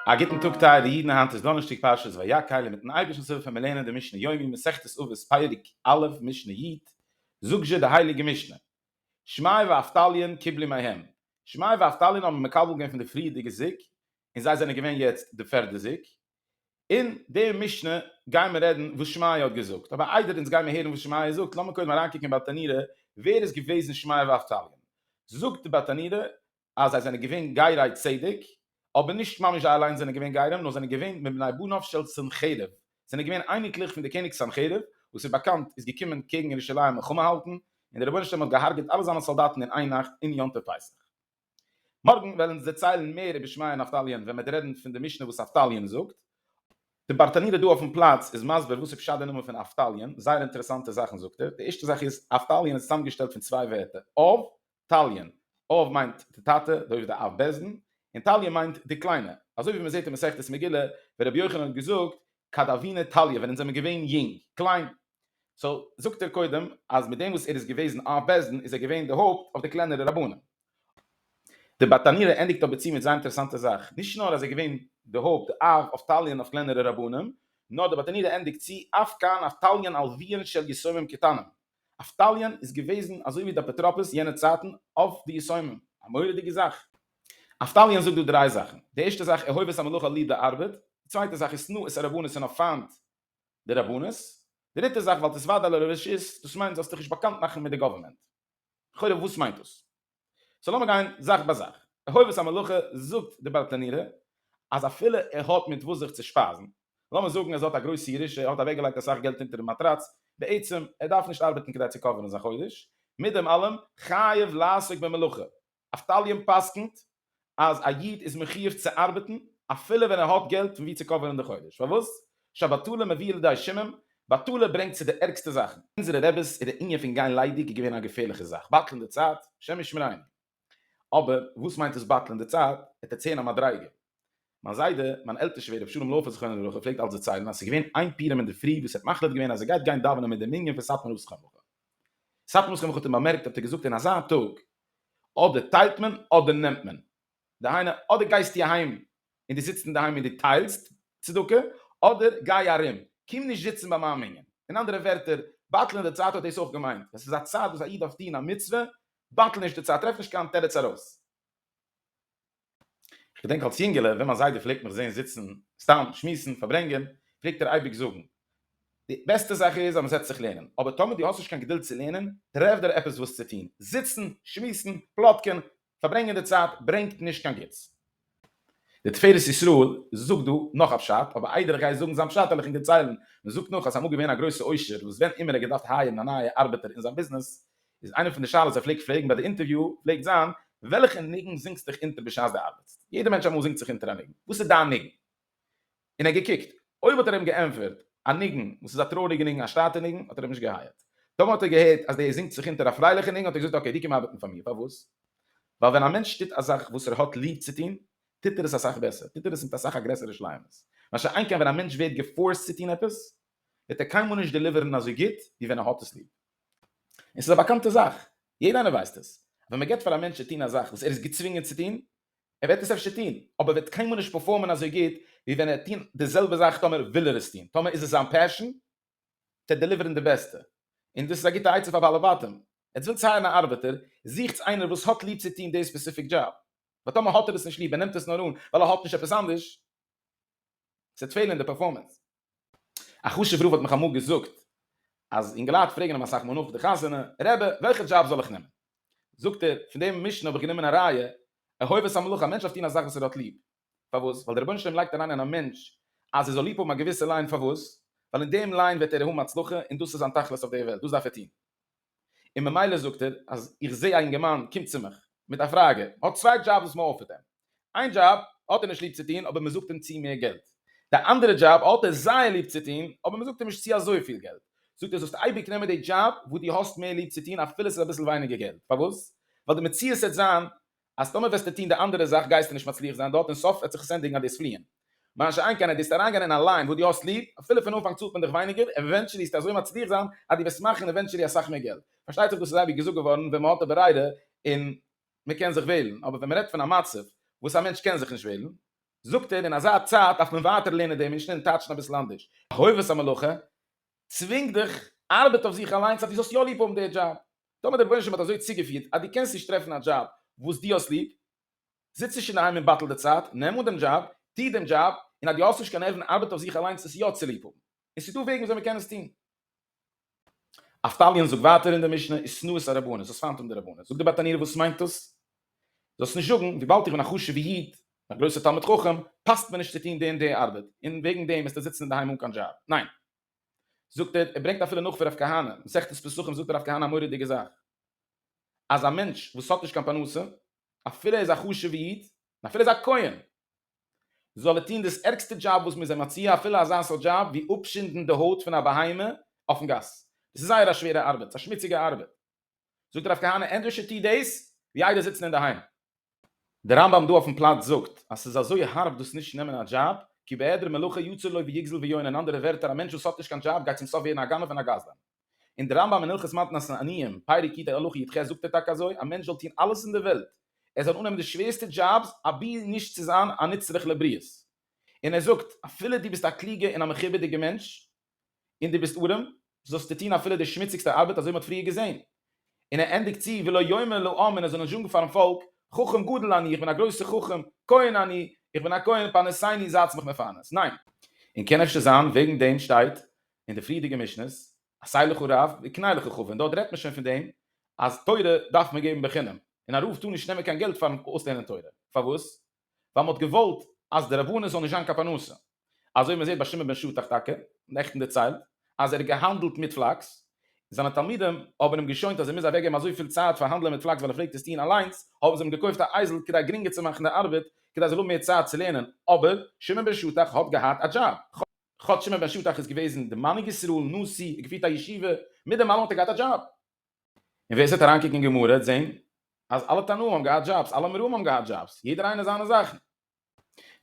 א גוטן טאג טייערע אידן, היינט איז דאנערשטאג פרשת ויקהל און מיטן אייבערשטנ'ס הילף ווען מיר לערנען די משנה יומי מסכת אבות פרק א' משנה י', זאגט זשע די הייליגע משנה, שמאי ואבטליון קיבלו מהם, שמאי ואבטליון האבן מקבל געווען פון די פריערדיגע זוג און זיי זענען געווען יעצט די פערדע זוג, אין די משנה גייען מיר רעדן וואס שמעיה האט געזאגט, אבער איידער אונז גייען מיר הערן וואס שמעיה זאגט, לאמיר קודם אריינקוקן אין בתנירא ווער איז געוועזן שמעיה ואבטליון. זאגט די בתנירא אז זיי זענען געווען גיירי צדק, אבער נישט ממש זיי אליינס זענען געווען גיירים, נאר זענען געווען מבני בניו של סנחריב, זענען געווען אייניקלעך פון די קעניג סנחריב, וואס איז באקאנט איז געקומען קעגן ירושלים מלחמה האלטן, און די רבונו של עולם האט געהארגעט אלע זיינע סאלדאטן אין איין נאכט אין יום טוב פסח. מארגן וועלן אונז דערציילן מער איבער שמעיה און נפתלי'ן ווען מ'עט רעדן פון די משנה וואס נפתלי'ן זאגט. די ברטנורא דא אויפן פלאץ איז מסביר וואס איז פשט די נאמען פון נפתלי'ן, זייער אינטערעסאנטע זאכן זאגט ער, די ערשטע זאך איז נפתלי'ן איז צוזאמגעשטעלט פון צוויי ווערטער, אב, תלי'ן, אב מיינט די טאטע, דאורייתא די אב בעסטן, און תליא מיינט די קליינע, אזוי ווי מ'זעט אין מסכת מגילה ווען רבי יוחנן האט געזאגט כד אבינו תליא ווען אונז זעמער געווען יונג, קליין, סאו זאגט ער קודם אז מיט דעם וואס ער איז געוועזן אויף בעסדן איז ער געווען די הויפט אויף די קלענערע רבנים. די באטאנירער ענדיגט אבער צו מיט זייער אינטערעסאנטע זאך, נישט נאר אז ער איז געווען די הויפט די אב אויף תליין אויף קלענערע רבנים, נאר די באטאנירער ענדיגט צו אף כאן אף תליין על וויען של יסומים קטנים, אף תליין איז געוועזן אזוי ווי די אפוטרופוס יענע צייטן אויף די יסומים, א מורא'דיגע זאך. אף תליין זאגט דא דריי זאכן, די ערשטע זאך אהובת המלוכה ליב די ארבעט, די צווייטע זאך איז שנאת הרבנות און האב פיינט די רבנות, דריטע זאך ווייל תסוודע לו לרשות, דאס מיינט זאלסט דיך נישט באקאנט מאכן מיט די גאווערמענט. לכאורה וואס מיינט דאס? סאו לאמיר גיין זאך ביי זאך. אהובת המלוכה זאגט די בעלטענירע אז אפילו ער האט מיט וואס זיך צו שפייזן, לאמיר זאגן אז ער האט א גרויסע ירושה, ער האט אוועקגעלייגט אסאך געלט אונטערן מאטראץ, בעצם ער דארף נישט ארבעטן כדי צו קאווערן זיין חודש, מיט דעם אלעם חייב לעסוק במלאכה. אבטליון פסק'נט אז א איד איז מחיוב צו ארבעטן אפילו ווען ער האט געלט פון ווי צו קאווערן די חודש, פארוואס? שבטלה מביא לידי שמים, בטלה ברענגט צו די ערגסטע זאכן. אונזערע רעבעס איז די ענין פון גיין ליידיג געווען א געפערליכע זאך, בטל'ן די צייט, השם ישמרינו. אבער וואס מיינט עס בטל'ן די צייט? ער טוט צעהן א מדריגה. מיין זיידע, מיין עלטער שווער ר' שלום לאופער זכרונו לברכה פלעגט אלץ דערציילן אז ס'איז געווען איין פורים אינדערפרי וואס ער האט מחליט געווען אז ער גייט גיין דאווענען מיט די מנין פון סאטמאר הוסכם וכו'. סאטמאר הוסכם וכו' האט אים באמערקט האט ער געזאגט אין אזא טאג אדער טיילט מען אדער נעמט מען, דהיינו אדער גייסטו אהיים און דו זיצט אינדערהיים און דו טיילסט צדקה, אדער גיי ארום, קום נישט זיצן ביי מיין מנין. אין אנדערע ווערטער, בטל אין די צייט האט דאס אויך געמיינט, ווען ס'איז א צייט וואס א איד דארף טון א מצוה, בטל נישט די צייט, טרעף נישט קיין תירוץ ארויס. איך געדענק אלס יונגעלע ווען מיין זיידע פלעגט מיך זען זיצן סתם שמועסן פארברענגען פלעגט ער אייביג זאגן די בעסטע זאך איז אז מען זעצט זיך לערנען אבער טאמער דו האסט נישט קיין געדולד צו לערנען טרעף דיר עפעס וואס צו טון, זיצן שמועסן פלאטקען פארברענגען די צייט ברענגט נישט קיין גוטס. די תפארת ישראל זאגט דא נאך א פשט אבער איידער איך גיי זאגן זיין פשט העל איך אים דערציילן, מען זאגט נאך אז ס'איז אמאל געווען א גרויסע עושר וואס ווען אימער ער האט געדארפט הייערן א נייע ארבעטער אין זיין ביזנעס איז איינע פון די שאלות ער פלעגט פרעגן ביי די אינטערוויו פלעגט זיין, וועלכע ניגון זינגסט דיך אונטער בשעת די ארבעטסט? יעדע מענטש אמאל זינגט זיך אונטער א ניגון, וואס איז דיין ניגון? און ער געקוקט, אויב האט ער אים געענטפערט א ניגון וואס איז א טרויעריגע ניגון א שטאטע ניגון האט ער אים נישט געהייערט, טאמער האט ער געהערט אז דער זינגט זיך אונטער א פרייליכע ניגון האט ער געזאגט אקעי דו קום ארבעטן פאר מיר, פארוואס? ווייל ווען א מענטש טוט א זאך וואס ער האט ליב צו טון טוט ער עס אסאך בעסער, טוט ער עס מיט אסאך א גרעסערע שלימות, מה שאין כן ווען א מענטש ווערט געפארסט צו טון עפעס וועט ער קיינמאל נישט דעליווערן אזוי גוט ווי ווען ער האט עס ליב. און ס'איז א באקאנטע זאך, יעדע איינער ווייסט עס, ווען מען געבט פאר א מענטש צו טון א זאך וואס ער איז געצווינגען צו טון, ער וועט עס אפשר טון, אבער ער וועט קיינמאל נישט פערפארמען אזוי גוט ווי ווען ער וועט טון די זעלבע זאך טאמער וויל ער עס טון, טאמער איז עס זיין פעשאן, וועט ער דעליווערן די בעסטע. און דאס איז א גוטע עצה פאר בעלי בתים, עטס ווילטס הייערן א ארבעטער, זוכטס איינער וואס האט ליב צו טון די ספעסיפיק דזשאב, ווייל טאמער האט ער עס נישט ליב, ער נעמט עס נאר אן ווייל ער האט נישט עפעס אנדערש, ס'וועט פעלן אין די פערפארמענס. א חשוב רב האט מיך אמאל געזאגט אז אינגעלייט פרעגן אים אסאך מאל נאך די חתונה, רעבע, וועלכע דזשאב זאל איך נעמען? זאגט ער, פון דעם משנה האב איך גענומען א ראיה, אהובת המלאכה, א מענטש דארף טון א זאך וואס ער האט ליב. פארוואס? ווייל דער רבונו של עולם לייגט אריין אין א מענטש אז ער זאל ליב האבן א געוויסע ליין, פארוואס? ווייל אין דעם ליין וועט ער האבן הצלחה און דאס איז זיין תכלית אויף דער וועלט, דאס דארף ער טון. און ממילא זאגט ער אז איך זע א אינגערמאן קומט צו מיך מיט א פראגע, האט צוויי דזשאבס וואס מען אפערט אים, איין דזשאב האט ער נישט ליב צו טון אבער מען זאגט אים צו מער געלט, די אנדערע דזשאב האט ער זייער ליב צו טון אבער מען זאגט אים נישט צו אזויפיל געלט, זאגט ער זאלסט אייביג נעמען די דזשאב וואס דו האסט מער ליב צו טון אפילו עס איז אביסל ווייניגער געלט, פארוואס? ווייל די מציאות העט זיין אז טאמער וועסטו טון די אנדערע זאך גייסטו נישט מצליח זיין דארט און סוף וועט זיך עס ענדיגן אז דו וועסט פליען. מה שאין כן אז דו וועסט אריינגיין אין א ליין וואס דו האסט ליב, אפילו פון אנפאנג צאלט מען דיך ווייניגער, עווענטשעלי וועסטו אזוי מצליח זיין אז דו וועסט מאכן עווענטשעלי אסאך מער געלט. פארשטייט זיך דאס איז אייביג געזאגט געווארן ווען מען האט א ברירה און מען קען זיך וועלן, אבער ווען מען רעדט פון א מצב וואס א מענטש קען זיך נישט וועלן, זאגט ער, אין אזא צייט דארף מען ווייטער לערנען דעם משנה און טייטשן אביסל אנדערש, חובת המלוכה צווינגט דיך, ארבעט אויף זיך אליינס אז דו זאלסט יא ליב האבן די דזשאב, טאמער דער רבונו של עולם האט אזוי צוגעפירט אז דו קענסט נישט טרעפן א דזשאב וואס דו האסט ליב, זיץ נישט אינדערהיים און בטל די צייט, נעם אן דעם דזשאב, טו דעם דזשאב, און אז דו האסט נישט קיין נערוון ארבעט אויף זיך אליינס עס יא צו ליב האבן. און ס'איז דא וועגן וויאזוי מען קען עס טון. אבטליון זאגט ווייטער אין די משנה איז שנאת הרבנות, זאלסט פיינט האבן די רבנות. זאגט דער בת ענינו וואס מיינט דאס? זאלסט נישט זאגן, וויבאלד איך בין א חשוב'ע איד, א גרויסער תלמיד חכם, פאסט מיר נישט צו טון די און די ארבעט, און וועגן דעם וועסטו זיצן אינדערהיים אן קיין דזשאב. ניין. זאגט ער, ער ברענגט אפילו נאך פון רב כהנא, מסכת פסחים זאגט רב כהנא א מורא'דיגע זאך, אז א מענטש וואס האט נישט קיין פרנסה, אפילו ער איז א חשוב'ע איד, און אפילו ער איז א כהן, זאל ער טון דאס ערגסטע דזשאב וואס מ'איז אים מציע, אפילו אזא סארט דזשאב ווי אפשינדן די הויט פון א בהמה אויפן גאס, דאס איז זייער א שווערע ארבעט, ס'איז א שמוציגע ארבעט, זאגט הרב כהנא ענדערש איז טו דאס ווי איידער זיצן אינדערהיים. דער רמב ם דא אויפן פלאץ זאגט אז ס'איז אזוי הארב דאס נישט נעמען א דזשאב, כי בהעדר מלאכה יצר לו ויגזל ויון אין אנדערע ווערטער א מענטש וואס האט נישט קיין דזשאב גייט צום סוף ווערן א גנב און א גזלן. און דער רמב ם אין הלכות מתנת עניים, פרק יט הלכה י ח זאגט ער טאקע אזוי, א מענטש זאל טון אלעס אין דער וועלט, ער זאל אננעמען די שווערסטע דזשאבס אבי נישט צו זיין א נצרך לבריות. און ער זאגט, אפילו דו ביסט א קלוגע און א מכובד'יגע מענטש, און דו ביסט אָרעם, זאָלסטו טאָן אַפֿילו די שמוציקסטע אַרבעט, אַזױ מע האָט פֿריִער געזען. און ער ענדיקט צו, ולא יאמר לעם, און ער זאָל נישט זאָגן פֿאַרן פֿאָלק, חכם גדול אני, איך בין אַ גרױסער חכם, כּהן אני, איך בין אַ כּהן, פּרנסני, זײַטס מיך מפֿרנס. נײן. און קאָן אפֿשר זײַן, װעגן דעם שטײט אין די פֿריִערדיקע משניות, עשה לך רב, וקנה לך חבֿר, און דאָרט רעדט מען שױן פֿון דעם, אַז תּורה דאַרף מען געבן בחינם, און אַ רבֿ טאָר נישט נעמען קײן געלט פֿאַרן אױסלערנען תּורה. פֿאַר װאָס? ווייל מ'האט געוואלט אז די רבנות זאל נישט זיין קיין פרנסה. אזוי ווי מ'זעט ביי שמעון בן שטח טאקע, נעכטן דערציילט אז ער האט געהאנדלט מיט פלאקס, זיינע תלמידים האבן אים געשוינט אז ער מוז אוועקגעבן אזויפיל צייט פאר האנדלען מיט פלאקס ווייל ער פלעגט עס טוהן אליינס, האבן זיי אים געקויפט א אייזל כדי גרינגער צו מאכן די ארבעט, כדי ער זאל האבן מער צייט צו לערנען, אבער שמעון בן שטח האט געהאט א דזשאב. כאטש שמעון בן שטח איז געוועזן די מנהיג ישראל, נשיא, געפירט א ישיבה, מיט דעם אלעם האט ער געהאט א דזשאב. און ווער ס'וועט אריינקוקן אין גמרא העט זעהן אז אלע תנאים האבן געהאט דזשאבס, אלע אמוראים האבן געהאט דזשאבס, יעדער איינער זיינע זאכן.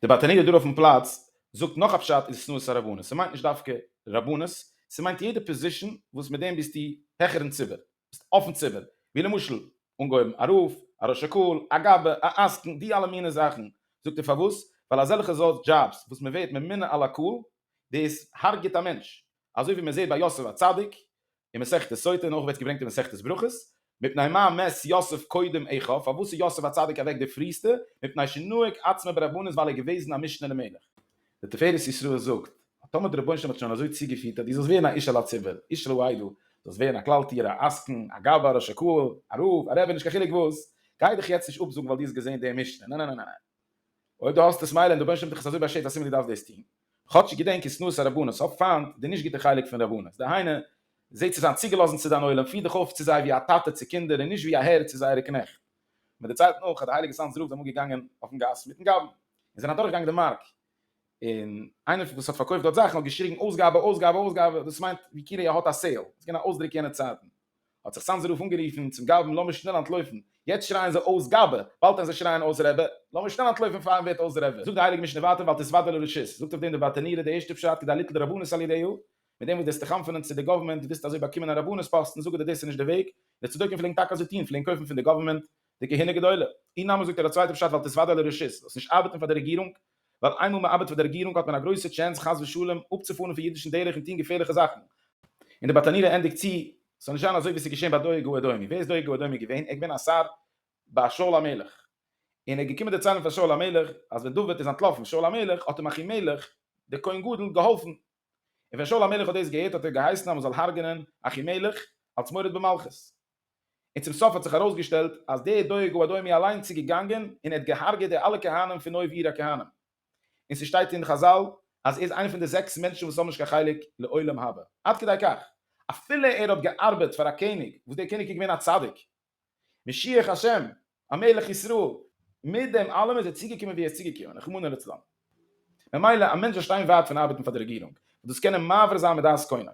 די באטעני' דא אויפן פלאץ זאגט נאך א פשט אין שנאת הרבנות, ס'מיינט נישט דווקא רבנות, ס'מיינט יעדע פאזישן וואס מיט דעם ביסטו העכער אין ציבור, ביסט אויפן ציבור, ווי למשל אנגעהויבן א רב, א ראש הקהל, א גאבע, א עסקן, די אלע מיני זאכן, זאגט ער פארוואס? ווייל אזעלכע סארט דזשאבס וואס מ'ווערט ממונה על הקהל, דאס הרג'עט א מענטש, אזוי ווי מען זעט ביי יוסף הצדיק אין מסכת סוטה און אויך ווערט עס געברענגט אין מסכת ברכות, מפני מה מת יוסף קודם עכו, פארוואס איז יוסף הצדיק אוועק די פריעסטע, מפני שנהג עצמו ברבנות ווייל ער איז געוועזן א משנה למלך. די תפארת ישראל זאגט, אז טאמער דער רבונו של עולם האט שוין אזוי צוגעפירט אז דו זאלסט ווערן א איש על הציבור, איש על העדה, דו זאלסט ווערן א כלל טיער, א עסקן, א גבאי, א ראש הקהל, א רב, א רבי, נישט קיין חילוק וואס, גיי דיך יעצט נישט אפזאגן ווייל דו האסט געזען די משנה, נע נע נע נע נע. אויב דו האסט עס מילא און דער בנשלם האט דיך עס אזוי באשערט אז סימן דו דארפסט דאס טון. כאטש געדענק אין שנאת הרבנות האב פיינט די נישט גוטע חלק פון רבנות, דהיינו זע צו זיין צוגעלאזן צו דיין עולם, פיר דיך אויף צו זיי ווי א טאטע צו קינדער און נישט ווי א הער צו זייערע קנעכט. מיט די צייט נאך אז די הייליגע סאנז רב איז אמאל געגאנגען אויפן גאס מיטן גאבן און זענען אדורכגעגאנגען די מארק און איינער וואס האט פארקויפט דארט זאכן האט געשריגן אויסגאבע אויסגאבע אויסגאבע דאס מיינט ווי כאילו ער האט א סעיל, ס'איז געווען א אויסדרוק יענע צייטן. האט זיך סאנזער רב אנגערופן צום גאבד לאמיר שנעל אנטלויפן, יעצט שרייען זיי אויס גאבע, באלד וועלן זיי שרייען אויס רעבע, לאמיר שנעל אנטלויפן פארן ווערט אויס רעבע. זאגט די הייליגע משנה ווייטער ואל תסוודע לו רשות, זאגט אויף דעם דער באטענירער די ערשטע פשט כדי ליטול רבנות על ידיו, מיט דעם וואס דו האסט דיך אנפונען צו די גאווערמענט, דו ווילסט אזוי באקומען א רבנות פאסטן, זאגט ער דאס איז נישט די וועג, די צדוקים פלעגן טאקע אזוי טון, פלעגן קויפן פון די גאווערמענט די כהונה גדולה. אי נמי זאגט ער א צווייטע פשט ואל תסוודע לו רשות, זאלסט נישט ארבעטן פאר די רעגירונג, ווייל איינמאל מען ארבעט פאר די רעגירונג האט מען א גרויסע טשענס חס ושלום אפצופארן פון אידישן דרך און טון געפערליכע זאכן. און דער באטאנירער ענדיגט צו, ס'זאל נישט זיין אזוי ווי ס'איז געשען ביי דואג האדומי. ווער איז דואג האדומי געווען? ער איז געווען א שר ביי שאול המלך. און ער איז געקומען דערציילן פאר שאול המלך אז ווען דוד איז אנטלאפן שאול המלך האט אים אחימלך דער כהן גדול געהאלפן. און ווען שאול המלך האט דאס געהערט האט ער געהייסן אז מען זאל הרג'ענען אחימלך אלס מורד במלכות. און צום סוף האט זיך ארויסגעשטעלט אז דער דואג ובדואי מי אליינס איז געגאנגען און ער האט געהארגעט די אלע כהנים פון אויב עיר הכהנים, און ס'שטייט אין חזל אז ער איז איינע פון די זעקס מענטשן וואס האבן נישט קיין חלק לעולם הבא, עד כדי כך אפילו ער האט געארבעט פאר א קעניג וואס דער קעניג איז געווען א צדיק משיח השם, א מלך ישראל, מיט דעם אלעם איז ער צוגעקומען ווי ער איז צוגעקומען, רחמנא לצלן. ממילא א מענטש זאל שטיין ווייט פון ארבעטן פאר די רעגירונג, וואס דאס קען אים מעביר זיין מדעת קונו.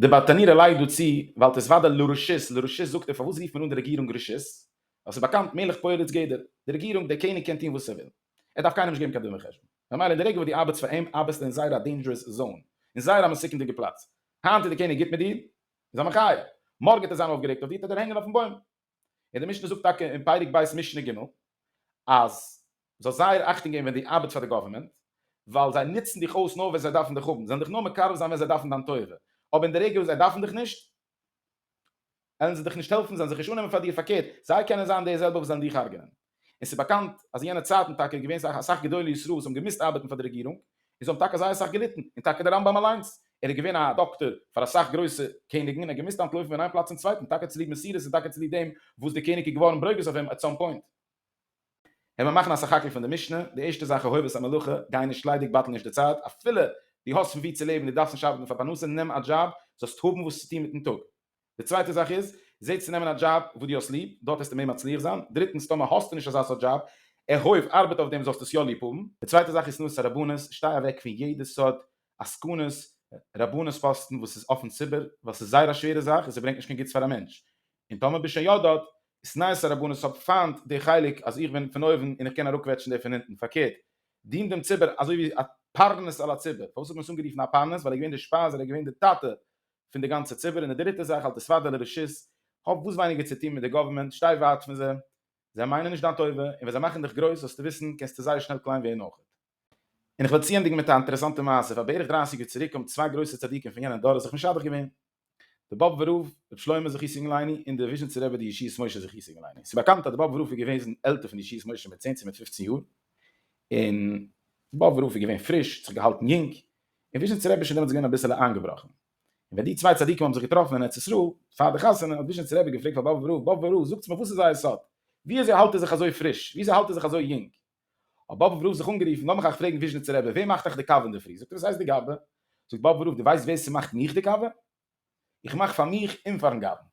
די באטאנירער לייגט דא צו, ווייל עס איז וודאי לא רשות, לא רשות זאגט ער פארוואס רופט מען אן די רעגירונג רשות? ווייל ס'איז באקאנט מלך פועל את גדר, די רעגירונג, דער קעניג קען טון וואס ער וויל, ער דארף קיינעם נישט געבן קיין דין וחשבון. ממילא אין די רגע וואס דו ארבעטסט פאר אים ארבעסטו אין זייער א דעינדזשרעס זאון, אין זייער א מסוכנ'דיגע פלאץ. היינט איז דער קעניג גוט מיט דיר, איז ער מחיה, מארגן וועט ער זיין אויפגערעגט אויף דיר, ט'ער דיר הענגען אויפן בוים. און די משנה זאגט טאקע אין פרק ב' משנה ג' אז זאלסט זייער אכטונג געבן ווען דו ארבעטסט פאר די גאווערמענט, ווייל זיי נוצן דיך אויס נאר ווען זיי דארפן דיך האבן, זיי זענען דיך נאר מקרב זיין ווען זיי דארפן דיין טובה, אבער אין די רגע וואס זיי דארפן דיך נישט, וועלן זיי דיך נישט העלפן, זיי וועלן זיך נישט אננעמען פאר דיר, פארקערט, זיי קענען זיין די זעלבע וואס וועלן דיך הרג'ענען. און ס'איז באקאנט אז אין יענע צייטן טאקע איז געווען אסאך גדולי ישראל וואס האבן געמוזט ארבעטן פאר די רעגירונג און זיי האבן טאקע זייער אסאך געליטן, און טאקע דער רמב ם אליינס, ער איז געווען א דאקטאר פאר אסאך גרויסע קעניגן און ער האט געמוזט אנטלויפן פון איין פלאץ צום צווייטן טאקע צוליב מסירות און טאקע צוליב דעם וואס דער קעניג איז געווארן ברוגז אויף אים עט סאם פוינט. העמער מאכן א סך-הכל פון די משנה, די ערשטע זאך אוהב את המלאכה, גיי נישט ליידיג בטל נישט די צייט, אפילו דו האסט פון וואו צו לעבן, דו דארפסט נישט ארבעטן פאר פרנסה, נעם א דזשאב, זאלסט האבן וואס צו טון מיטן טאג. די צווייטע זאך איז, זע צו נעמען א דזשאב וואס דו האסט ליב, דארט וועסטו מער מצליח זיין, דריטנס, טאמער האסטו נישט אזא סארט דזשאב, ערהויב ארבעט אויף דעם זאלסטו עס יא ליב האבן. די צווייטע זאך איז שנאת הרבנות, שטיי אוועק פון יעדע סארט עסקנות, רבנות פאסטן וואס איז אפן ציבור, ווייל ס'איז זייער א שווערע זאך און ס'ברענגט נישט קיין גוטס פאר א מענטש, און טאמער ביסט שוין יא דארט, שנאת הרבנות, האב פיינט די חלק אז איך בין פון אויבן און איך קען אראפקוועטשן די פון אונטן, פארקערט, דין דעם ציבור אזוי ווי א פרנס על הציבור, פארוואס האט מען עס אנגערופן א פרנס, ווייל ער איז געווען די שפייז, ער איז געווען די טאטע פון די גאנצע ציבור, און די דריטע זאך האלט די ספאדעלע רשעות, האב וואס ווייניגער צו טון מיט די גאווערמענט, שטיי ווייט פון זיי, זיי מיינען נישט דיין טובה, און ווען זיי מאכן דיך גרויס זאלסטו וויסן קענסטו זייער שנעל קליין ווערן אויכעט. און איך וועל צוענדיגן מיט א אינטערעסאנטע מעשה, פאר בערך דרייסיג יאר צוריק האבן צוויי גרויסע צדיקים פון יענעם דור זיך משדך געווען, די באב ורב, ר' שלמה זכות אינגלייני, און די וויזשניצער רבי די ישיבת משה זכות אינגלייני, ס'איז באקאנט אז די באב ורב איז געוועזן עלטער פון די ישיבת משה מיט צען צו מיט פופצן יאר, און די באב ורב איז געווען פריש, האט זיך געהאלטן יונג, און וויזשניצער רבי איז שוין דעמאלטס געווען אביסעלע איינגעבראכן, און ווען די צוויי צדיקים האבן זיך געטראפן אין ארץ ישראל פאר די חתונה האט וויזשניצער רבי געפרעגט פאר באבוב רב, באבוב רב זאגטס מיר וואס איז אייער סוד? וויאזוי האלט איר זיך אזוי פריש? וויאזוי האלט איר זיך אזוי יונג? האט באבוב רב זיך אנגערופן, לאמיך אייך פרעגן וויזשניצער רבי, ווער מאכט אייך די קאווע אינדערפרי? זאגט ער וואס הייסט די קאווע? זאגט באבוב רב, די ווייסט ווער ס'מאכט מיך די קאווע? איך מאך פאר מיך און פארן גאווען.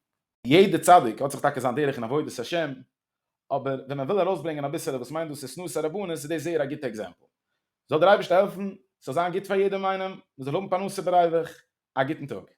יעדע צדיק האט זיך טאקע זיין דרך אין עבודת השם, אבער ווען מען וויל ארויסברענגען אביסעלע וואס מיינט דאס איז שנאת הרבנות איז דאס זייער א גוטע עקזעמפל. זאל דער אייבערשטער העלפן ס'זאל זיין גוט פאר יעדעם איינעם, מען זאל האבן פרנסה בריווח, א גוטן טאג.